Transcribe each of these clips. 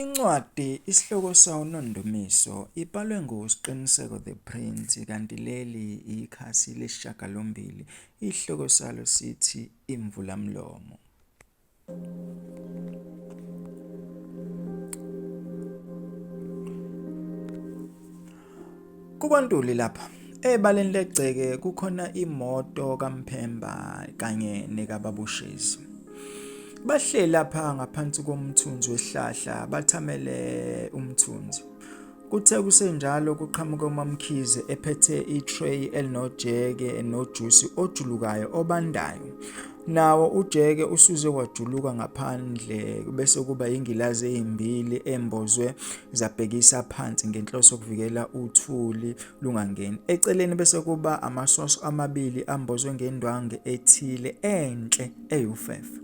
Incwadi isihloko sawo uNondumiso ibhalwe nguSqiniseko the Prince kanti leli ikhasi lesishiyagalombili isihloko salo sithi Imvulamlomo. KuKwaNtuli lapha ebaleni legceke kukhona imoto kaMphemba kanye nekaBabushezi. Bahleli lapha ngaphansi komthunzi wesihlahla bathamele umthunzi. Kuthe kusenjalo kuqhamuka uMamkhize ephethe itray elinojeke nojusi ojulukayo obandayo. Nawo ujeke usuze wajuluka ngaphandle bese kuba ingilazi ezimbili embozwe zabhekisa phansi ngenhloso yokuvikela uthuli lungangeni. Eceleni bese kuba amasoso amabili ambozwe ngendwangu ethile enhle eyufefe.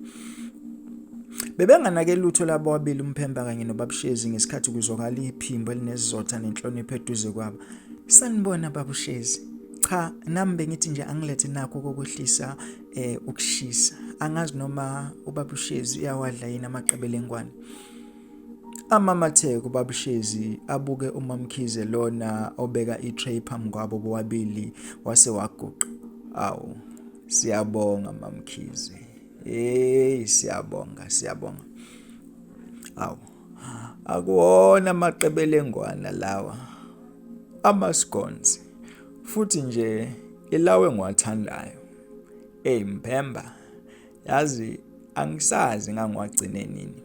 Bebenganake lutho labo ababili umphemba kanye nobabushezi ngesikhathi kuzwakala iphimbo elinezizotha nenhlonipho eduze kwabo. Sanibona babushezi. Cha, nami bengithi nje angilethe nakho kokwehlisa eh ukushisa angazi noma ubabushezi uyawadla yini amaqebelengwane amamatheko babushezi abuke umamkhize lona obeka i-tray phambi kwabo bobabili wase waguqa awu siyabonga mamkhize hey siyabonga siyabonga awu akuwona amaqebelengwana lawa amascones futhi nje ilawe ngiwathandayo eyi mphemba yazi angisazi ngangiwagcine nini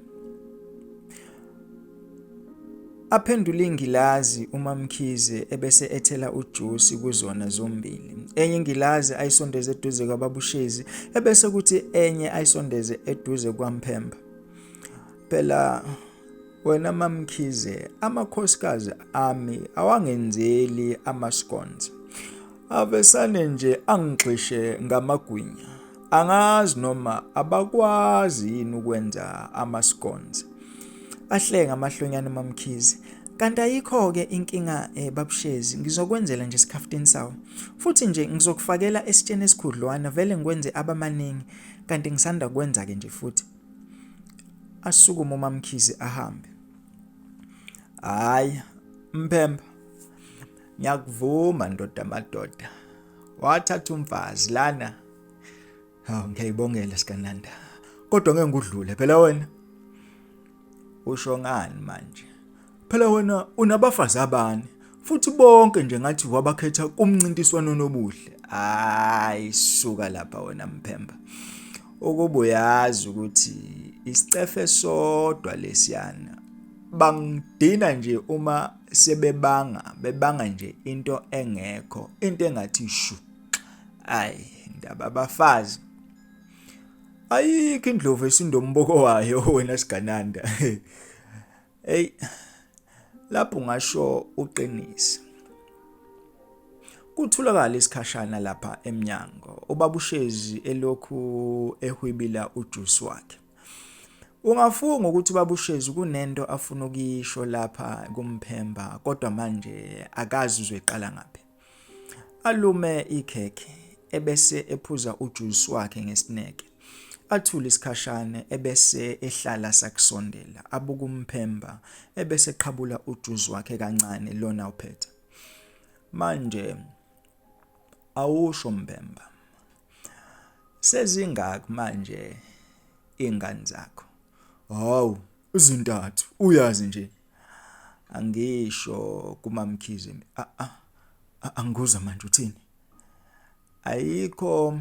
aphendula ingilazi umamkhize ebese ethela ujusi kuzona zombili enye ingilazi ayisondeze eduze kwababushezi ebese kuthi enye ayisondeze eduze kwamphemba Phela wena mamkhize amakhosikazi ami awangenzeli amascones avesane nje angixishe ngamagwinya angazi noma abakwazi yini ukwenza amascones ahlenga amahlonyana mamkhize kanti ayikho ke inkinga eh, babushezi ngizokwenzela nje isikhaftini sawo futhi nje ngizokufakela esitsheni esikhudlwana vele ngikwenze abamaningi kanti ngisanda kwenza ke nje futhi asukume umamkhize ahambe hayi mpemba ngiyakuvuma ndoda madoda wathatha umfazi lana hawu ngiyayibongela sikananda kodwa ngeke ngudlule phela wena usho ngani manje Phela wena unabafazi abane futhi bonke nje ngathi wabakhetha kumncintiswano nobuhle. Hayi suka lapha wena mphemba. Ukuba uyazi ukuthi isicefe sodwa lesiyana bangidina nje uma sebebanga bebanga nje into engekho into engathi shu ayi ndaba abafazi ayikho indlovu esindomboko wayo wena sigananda Hey lapho ngasho uqinisa Kutholakala isikhashana lapha emnyango ubabushezi elokhu ehwibila ujuice wakhe Ungafunga ukuthi ubabushezi kunento afuna ukuyisho lapha kumphemba kodwa manje akazi uzoyiqala ngaphi Alume ikhekhe ebese ephuza ujuice wakhe ngesineke. Athule isikhashane ebese ehlala sakusondela abuka umphemba ebese qhabula ujuice wakhe kancane lona uphethe. Manje awusho mbemba. Sezingaki manje ingane zakho? Hawu, Ezintathu uyazi nje. Angisho kumamkhize mina. A a a- angikuzwa manje uthini? Ayikho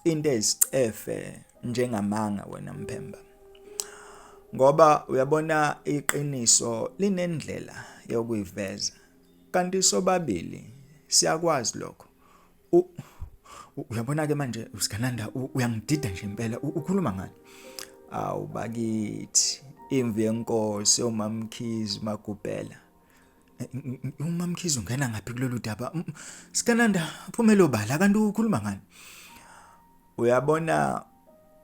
into ezicefe njengamanga wena mphemba. Ngoba uyabona iqiniso linendlela yokuyiveza. Kanti sobabili siyakwazi lokho. uyabona ke manje usigananda uyangidida nje impela ukhuluma ngani awu bakithi imvu yenkosi omamkhizi magubhela eh, umamkhizi ungena ngaphi kulolu daba sikananda phumelo bala kanti ukhuluma ngani uyabona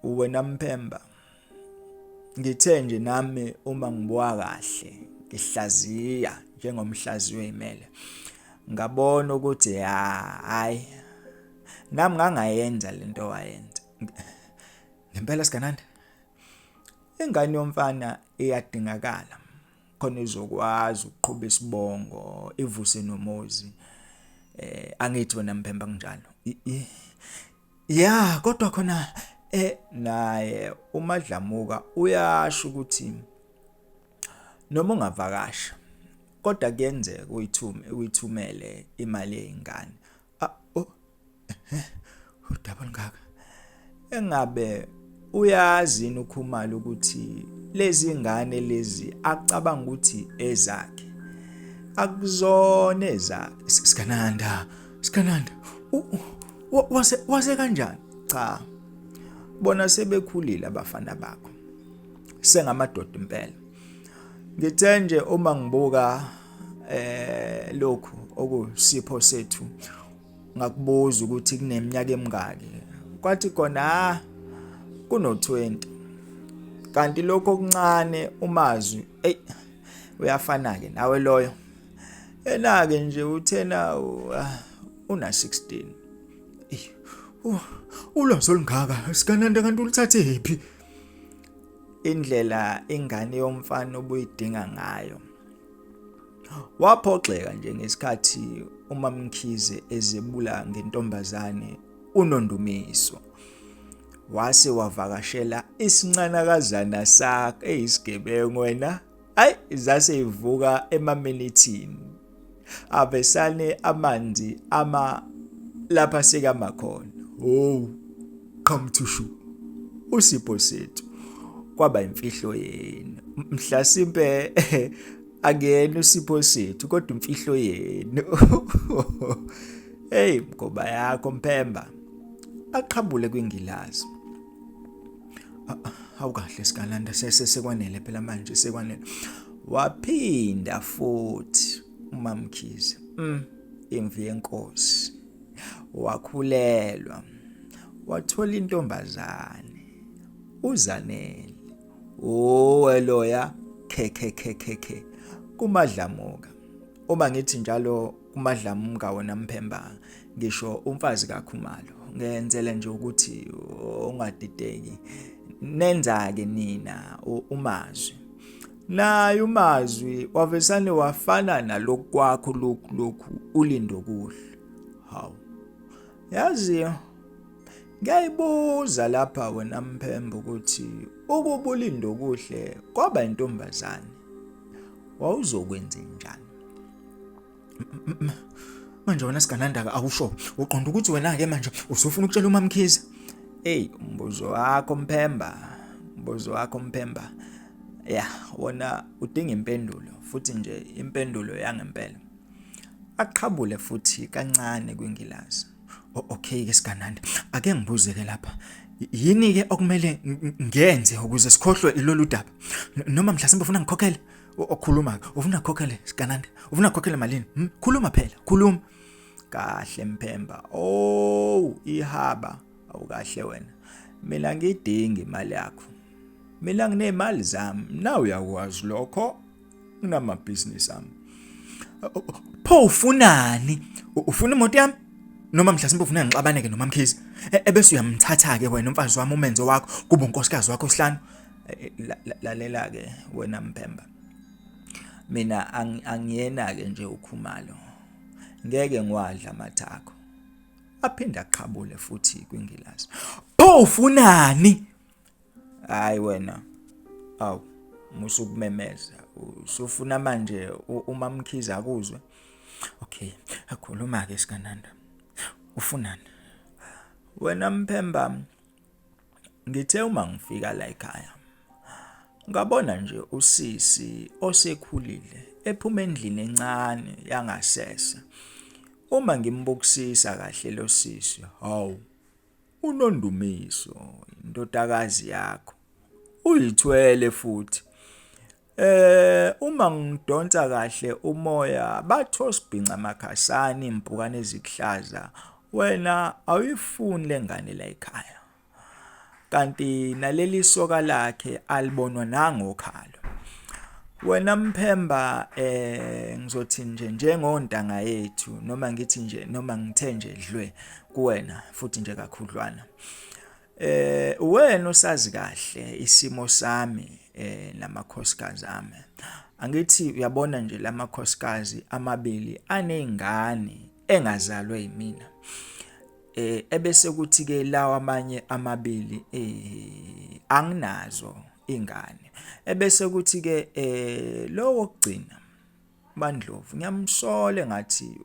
wena mphemba ngithe nje nami uma ngibuka kahle ngihlaziya njengomhlaziyo imele ngabona ukuthi hayi nami ngangayenza lento wayenza ngempela sigananda ingane yomfana iyadingakala khona izokwazi ukuqhuba isibongo ivuse nomuzi eh angithi wena mphemba kunjalo ya kodwa khona eh naye umadlamuka uyasho ukuthi noma ungavakasha kodwa kuyenzeka uyithume uyithumele imali yezingane udaba olungaka engabe uyazi yini ukhumalo ukuthi lezi ngane lezi acabanga ukuthi ezakhe akuzona ezakhe sikananda sikananda wase wase kanjani cha bona sebekhulile abafana bakho sengamadoda impela ngithe nje uma ngibuka eh lokhu okusipho sethu ngakubuza ukuthi kuneminyaka emingaki kwathi kona ah kuno 20 kanti lokho okuncane umazwi ey uyafana ke nawe loyo ena ke nje uthena ah, una 16 uh, ulwazi olungaka sikananda kanti ulithathe phi indlela ingane yomfana obuyidinga ngayo Waphoxeka nje ngesikhathi uMamkhize ezebula ngentombazane uNondumiso. Wase wavakashela isincanakazana sakhe eyisigebengu wena ayi zase ivuka emaminithini avesane amanzi ama lapha sikamakhona oh come to show usipho sethu kwaba imfihlo yenu mhlasimpe akuyena usipho sethu kodwa imfihlo yenu hey mgoba yakho mpemba aqhabule kwingilazi awukahle sikalanda sese sekwanele phela manje sekwanele waphinda futhi umamkhize mm imvi yenkosi wakhulelwa wathola intombazane uzanele owe loya khekhekhekhe kumadlamuka uma ngithi njalo kumadlamuka wona mphemba ngisho umfazi kakhumalo ngenzele nje ukuthi ungadideki nenza ke nina umazwi naye umazwi wavesane wafana nalokhu kwakho lokhu lokhu ulindo kuhle hawu yazi ngiyayibuza lapha wena mphembo ukuthi ukuba ulindo kuhle kwaba intombazane wawuzokwenza njani manje wena siganandaka awusho uqonda ukuthi wena-ke manje usufuna ukutshela umamkhize eyi umbuzo wakho mphemba umbuzo wakho mphemba ya wona udinga impendulo futhi nje impendulo yangempela aqhabule futhi kancane kwingilazi okay ke sigananda ake ngibuze ke lapha yini ke okumele ngenze ukuze sikhohlwe ilolu daba noma mhlasimbe ufuna ngikhokhele okhuluma ufuna khokhele sigananda ufuna khokhele malini hmm? khuluma phela khuluma kahle mphemba oh ihaba awukahle wena mina ngidingi imali yakho mina nginemali zami nawe uyakwazi lokho nginamabhizinisi ami pho ufunani ufuna imoto yami noma mhlasimbe ufuna ngixabaneke nomamkhizi e, ebese uyamthatha-ke wena umfazi wami umenzo wakho kuba unkosikazi wakho sihlanu eh, lalela ke wena mpemba mina angiyena ke nje ukhumalo ngeke ngwadla amathakho aphinda aqhabule futhi kwingilazi pho ufunani hayi wena awu musu kumemeza usufuna manje uma mkhiza akuzwe okay akhuluma ke sikananda ufunani wena mphemba Ngithe uma ngifika la ekhaya ngabona nje usisi osekhulile ephuma endlini encane yangasese. Uma ngimbukisisa kahle lo sisi, hawu uNondumiso indodakazi yakho. Uyithwele futhi. Eh uma ngidonsa kahle umoya batho sibhinca makhasani impukane ezikuhlaza wena awuyifuni lengane la ekhaya kanti naleli soka lakhe alibonwa nangokhalo wena mphemba eh ngizothi nje njengontanga yethu noma ngithi nje noma ngithe nje dlwe kuwena futhi nje kakhudlwana Eh wena usazi kahle isimo sami eh namakhosikazi ami. Angithi uyabona nje lamakhosikazi amabili anezingane engazalwe yimina. Eh ebese kuthi ke lawa amanye amabili eh anginazo ingane. Ebese kuthi ke eh lowo kugcina Bandlovu ngiyamsola ngathi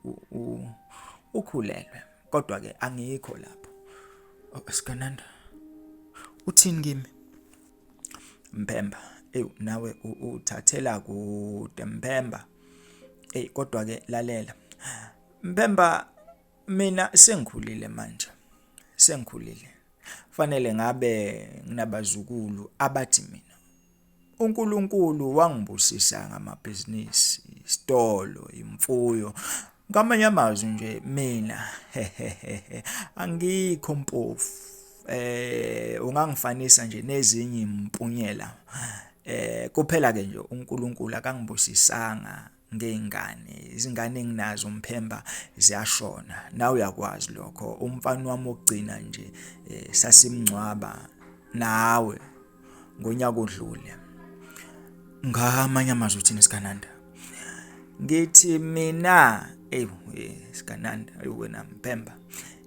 ukhulelwe kodwa ke angikho lapho oh, sikananda uthini kimi Mpemba ewu nawe uthathela kude Mpemba ey kodwa ke lalela Mpemba mina sengikhulile manje sengikhulile fanele ngabe nginabazukulu abathi mina uNkulunkulu wangibusisa ngamabhizinisi isitolo imfuyo ngamanye amazwi nje mina angikho mpofu eh ungangifanisa nje nezinye impunyela eh kuphela ke nje uNkulunkulu akangibusisanga ngey'ngane izingane enginazo umphemba ziyashona nawe uyakwazi lokho umfana wami wokugcina nje eh, sasimngcwaba nawe ngonyaka odlule ngamanye amazwi uthini sikananda ngithi mina eyi eh, sikananda ayi wena mpemba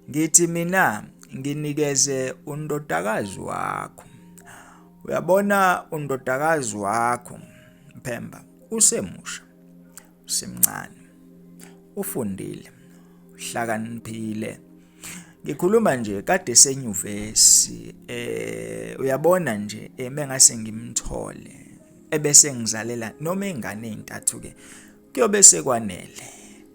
ngithi mina nginikeze undodakazi wakho uyabona undodakazi wakho mpemba Usemusha, usemncane, ufundile, uhlakaniphile. Ngikhuluma nje kade senyuvesi eh uyabona nje eh, mengase ngimthole ebese ngizalela noma ingane ezintathu ke kuyobe sekwanele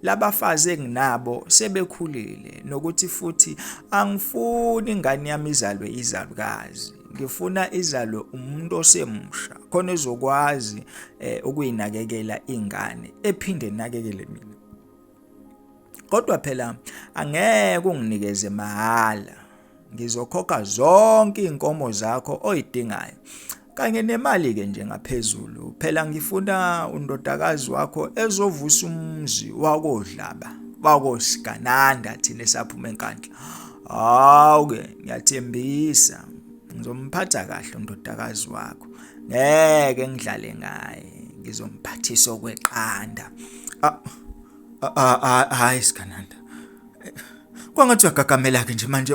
labafazi enginabo sebekhulile nokuthi futhi angifuni ingane yami izalwe izalukazi ngifuna izalwe umuntu osemusha khona ezokwazi eh, ukuyinakekela ingane ephinde nakekele mina kodwa phela angeke unginikeze mahala ngizokhokha zonke inkomo zakho oyidingayo kanye nemali ke nje ngaphezulu phela ngifuna undodakazi wakho ezovusa umzi wakodlaba wakosigananda thina esaphuma enkandla hawu ke ngiyathembisa ngizomphatha kahle undodakazi wakho ngeke ngidlale ngaye ngizomphathisa okweqanda ah, ah, ah, hayi sigananda kwangathi uyagagamela ke nje manje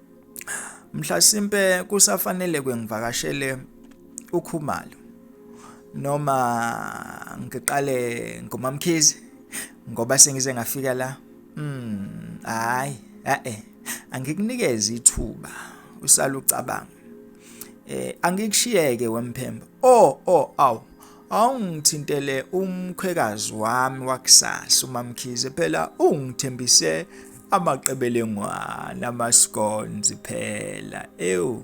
mhlasimpe kusafanele kwengivakashele ukhumalo noma ngiqale ngomamkhizi ngoba sengize ngafika la mm hayi eh angikunikeze ithuba usala ucabanga eh angikushiyeke wemphemba oh oh aw awungithintele umkhwekazi wami wakusasa umamkhize phela ungithembise amaqebelengwana amascones phela ewu